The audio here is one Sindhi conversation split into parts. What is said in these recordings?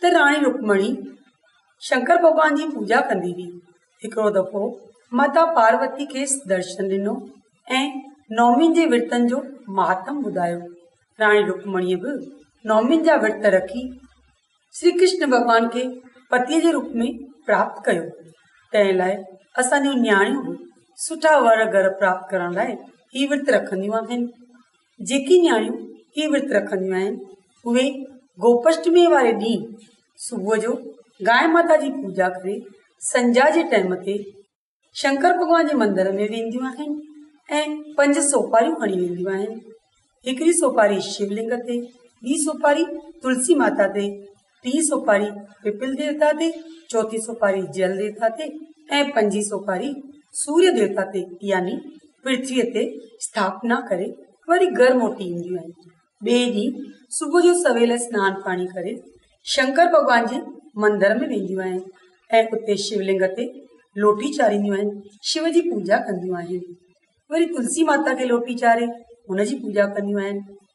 ته راڻي رڪمڻي شنڪر ڀڳوان جي پوڄا ڪندي هئي. هڪڙو دفعو ماتا پاروتي کيس درشن ڏنو ۽ نومين جي ورتن جو مهاتم ٻڌايو. راڻي رڪمڻيء به نومين جا ورت رکي شري ڪرشن ڀڳوان کي پتيء جي روپ ۾ پراپت ڪيو. تنهن لاء اسان جون نياڻيون به سٺا ور گهر پراپت ڪرڻ لاء هي ورت رکنديون آهن. جيڪي نياڻيون هي ورت رکنديون آهن اهي گوپشٽمي واري ڏينهن صبح جو گائي ماتا جي پوڄا ڪري سنجا جي ٽيم تي شنڪر ڀڳوان جي مندر ۾ وينديون آهن ۽ پنج سوپاريون کڻي وينديون آهن هڪڙي سوپاري شولنگ تي ٻي سوپاري تلسي ماتا تي ٽي سوپاري پپل ديوتا تي، چوٿين سوپاري جل ديوتا تي ۽ پنجين سوپاري سوريا ديوتا تي يعني پرٿويء تي اسٿاپنا ڪري وري گهر موٽي اينديون آهن. ٻئي ڏينهن صبح جو سويل سنان پاڻي ڪري شنڪر ڀڳوان جي مندر ۾ وينديون آهن ۽ اتي شولنگ تي لوٽي چارينديون آهن شو جي پوڄا ڪنديون آهن وري تلسي ماتا کي لوٽي چاري ان جي پوڄا ڪنديون آهن.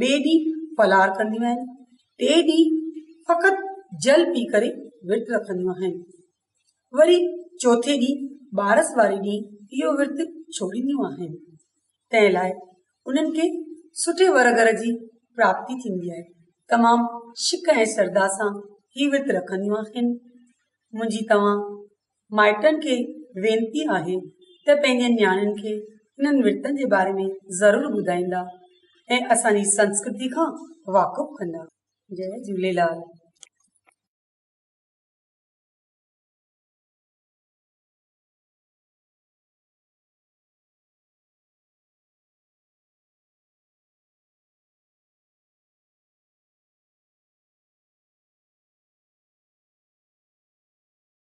ٻئي ڏينهن ڦلار ڪنديون آهن، ٽي ڏينهن فقط جل پي ڪري ورت رکنديون آهن، وري چوٿين ڏينهن ٻارس واري ڏينهن اهو ورت ڇوڙينديون آهن، تنهن لاء انهن کي سٺي ور گهر جي پراپتي ٿيندي آهي، تمام شڪ ۽ سرڌا سان هي ورت رکنديون آهن، منهنجي توهان. مائٽن کي وينتي آهي ته پنهنجي نياڻين کي هنن ورتن جي باري ۾ ضرور ٻڌائيندا ۽ اسان جي سنسڪرتي کان واقف ڪندا. جئي جهوليلال.